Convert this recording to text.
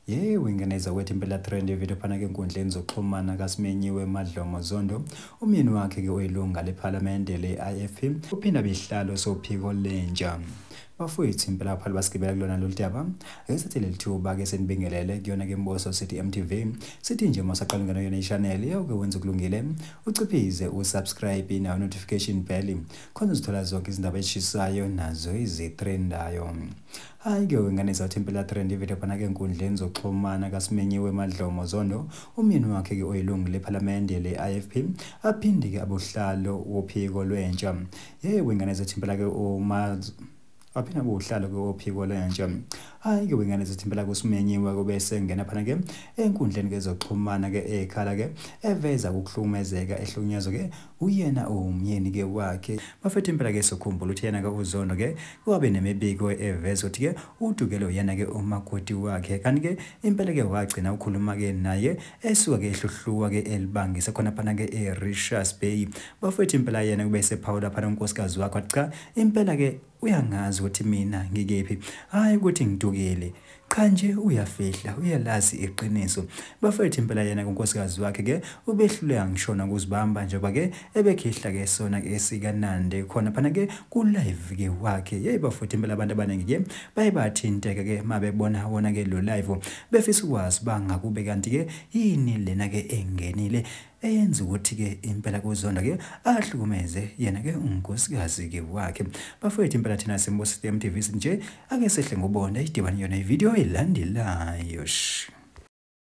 ye wingeneza kwethu impela trend evidiyo phana ke enkundleni zokuxhumana kasimenyiwe madlomo zondo umyeni wakhe ke oyilunga lephalamende le-ifp uphinda behlalo sophiko lentsha bafowethu impela abaphalu basigibela kulona lolu daba ake sithi leli thuba ke senibingelele kuyona ke mboso sithi mtv sithi nje uma saqala ungena kuyona ishaneli yawuke wenza ukulungile uciphize usubscribe nawo notification bell khona uzithola zonke izindaba ezishisayo nazo izitrendayo hhayi-ke wengane zathi impela trend ivele phana-ke enkundleni zokuxhumana kasimenyiwe emadlomo zondo umyeni wakhe-ke oyilungu lephalamende le-ifp aphinde-ke abuhlalo wophiko lwentsha ye wengane zathi impela-ke uma aphinde abe uhlalo kophiko lentsha hayi ke wengane zithi impela kusimenyiwe kube sengena phana ke enkundleni kezoxhumana ke ekhala ke eveza ukuhlukumezeka ehlukunyezwa ke uyena umyeni ke wakhe bafethu impela ke sokhumbula ukuthi yena ke uzondo ke wabe nemibiko eveza ukuthi ke udukele uyena ke umakoti wakhe kanti ke impela ke wagcina ukhuluma ke naye esuka ke ehluhluwa ke elibangise khona phana ke eRishas Bay bafethu impela yena kube sephawula phana unkosikazi wakho cha impela ke uyangazi ukuthi mina ngikephi hayi ukuthi ngidukile cha nje uyafihla uyalazi iqiniso bafethu impela yena kunkosikazi wakhe ke ubehluleka ngishona ukuzibamba njengoba ke ebekhihla ke sona ke sikanande khona phana ke ku live ke wakhe hey bafuthe impela abantu abaningi ke baye bathinteka ke mabebona wona ke lo live befisa ukwazi bangakube kanti ke yini lena ke engenile eyenza ukuthi ke impela kuzonda ke ahlukumeze yena ke unkosikazi ke wakhe bafowethu impela thina simbosisi MTV nje ake sehle ngobona idibani yona ivideo elandelayo